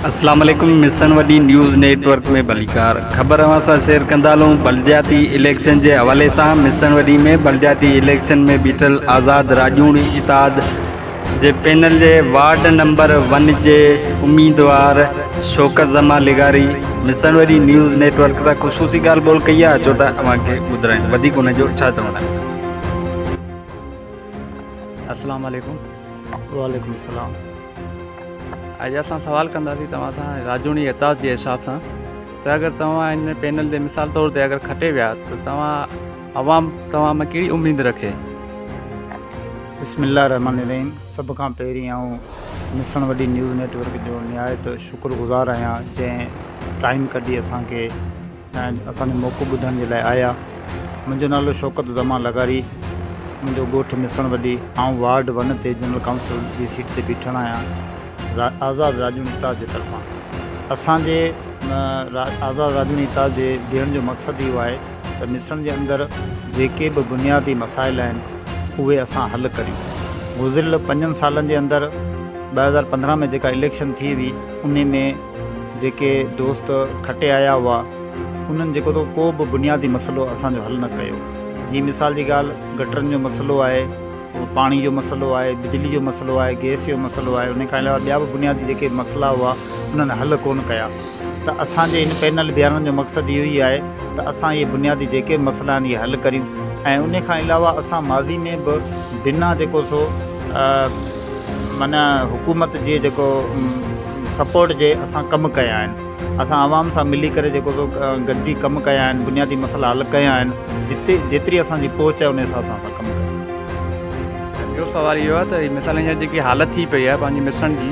اسلام عليڪم Misan Wadi news network ۾ ڀليڪار خبر اوهان سان شيئر ڪندا هلون بلدياتي اليڪشن جي حوالي سان مسڻ وڏي ۾ بلدياتي اليڪشن ۾ بيٺل آزاد راڄوڻي اتحاد جي پينل جي وارڊ نمبر ون جي اميدوار شوڪت زمان لغاري مسڻوري نيوز نيٽ ورڪ سان خصوصي ڳالهه ٻولهه ڪئي آهي اچو ته اوهان کي ٻڌرايون وڌيڪ ان جو ڇا چوڻ آهي. السلام عليڪم. وعليڪم السلام. اڄ اسان سوال ڪنداسين توهان سان راجوڻي اعتاز جي حساب سان ته اگر توهان ان پينل تي مثال طور تي اگر کٽي ويا ته توهان عوام توهان مان ڪهڙي اميد رکي؟ بسم الله الرحمٰن الرحيم سڀ کان پهرين آئون Misan Wadi news network جو نهايت شڪر گذار آهيان جنهن ٽائيم ڪڍي اسان کي اسان جو موقعو ٻڌڻ جي لاء آيا منهنجو نالو شوڪت زمان لغاري منهنجو ڳوٺ مصڻ وڏي آئون وارڊ ون تي جنرل ڪائونسل جي سيٽ تي بيٺل آهيان آزاد راڄوڻي اتحاد جي طرفان اسان جي آزاد راڄوڻي اتحاد جي بيهڻ جو مقصد اهو آهي ته مصرن جي اندر جيڪي به بنيادي مسائل آهن اهي اسان حل ڪريون. گذريل پنجن سالن جي اندر ٻه هزار پندرهن ۾ جيڪا اليڪشن ٿي هئي ان ۾ جيڪي دوست کٽي آيا هئا انهن جيڪو ته ڪو به بنيادي مسئلو اسان جو حل نه ڪيو. جيئن مثال جي ڳالهه گٽرن جو مسئلو آهي، پاڻي جو مسئلو آهي، بجلي جو مسئلو آهي، گئس جو مسئلو آهي انهي کان علاوه ٻيا به بنيادي جيڪي مسئلا هئا انهن حل ڪونه ڪيا. ته اسان جي هن پينل بيهارڻ جو مقصد اهو ئي آهي ته اسان اهي بنيادي جيڪي به مسئلا آهن اهي حل ڪريون ۽ انهي کان علاوه اسان ماضي ۾ به بنا جيڪو سو معنيٰ حڪومت جي جيڪو سپورٽ جي اسان ڪم ڪيا آهن اسان عوام سان ملي ڪري جيڪو سو گڏجي ڪم ڪيا آهن بنيادي مسئلا حل ڪيا آهن جتي جيتري اسان جي پهچ آهي انهي حساب سان اسان ڪم ڪيا آهن. ٻيو سوال اهو آهي ته هي مثال هينئر جيڪي حالت ٿي پئي آهي پنهنجي مصرن جي.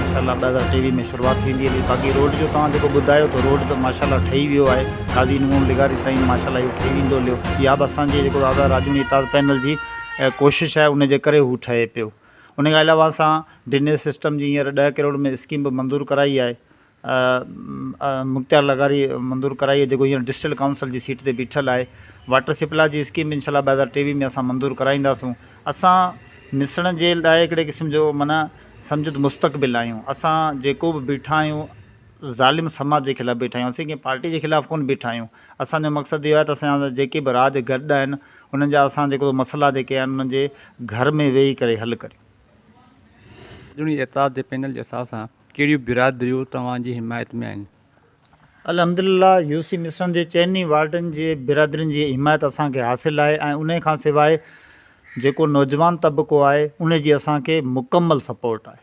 ماشاء الله ٻه هزار ٽيويهه ۾ شروعات ٿيندي هلي باقي روڊ جو توهان جيڪو ٻڌايو ٿو روڊ ته ماشاء الله ٺهي ويو آهي قاضي نون لغاري تائين ماشاء الله اهو ٺهي ويندو هليو اها به اسان جي جيڪو آزاد راڄوڻي اتحاد پينل جي ڪوشش آهي ان جي ڪري هو ٺهي پيو ان کان علاوه اسان ڊنيز سسٽم جي هينئر ڏهه ڪروڙ ۾ اسڪيم به منظور ڪرائي آهي مختيار لغاري منظور ڪرائي آهي جيڪو هينئر ڊسٽرڪٽ ڪائونسل جي سيٽ تي بيٺل آهي واٽر سپلاء جي اسڪيم به انشاءالله ٻه هزار ٽيويهه ۾ اسان منظور ڪرائينداسون اسان مصرڻ جي لاء هڪڙي قسم جو معنيٰ سمجهه ته مستقبل آهيون اسان جيڪو به بيٺا آهيون ظالم سماج جي خلاف بيٺا آهيون اسين ڪنهن پارٽي جي خلاف ڪونه بيٺا آهيون اسان جو مقصد اهو آهي ته اسان جا جيڪي به راڄ گڏ آهن انهن جا اسان جيڪو مسئلا جيڪي آهن انهن جي گهر ۾ ويهي ڪري حل ڪريون. ٻڌڻي اعتراض جي پينل جي حساب سان ڪهڙيون برادريون توهان جي حمايت ۾ آهن؟ الحمدلله يو سي مصرن جي چئن ئي وارڊن جي برادرين جي حمايت اسان کي حاصل آهي ۽ انهي کان سواء جيڪو نوجوان طبقو آهي انهي جي اسان کي مڪمل سپورٽ آهي.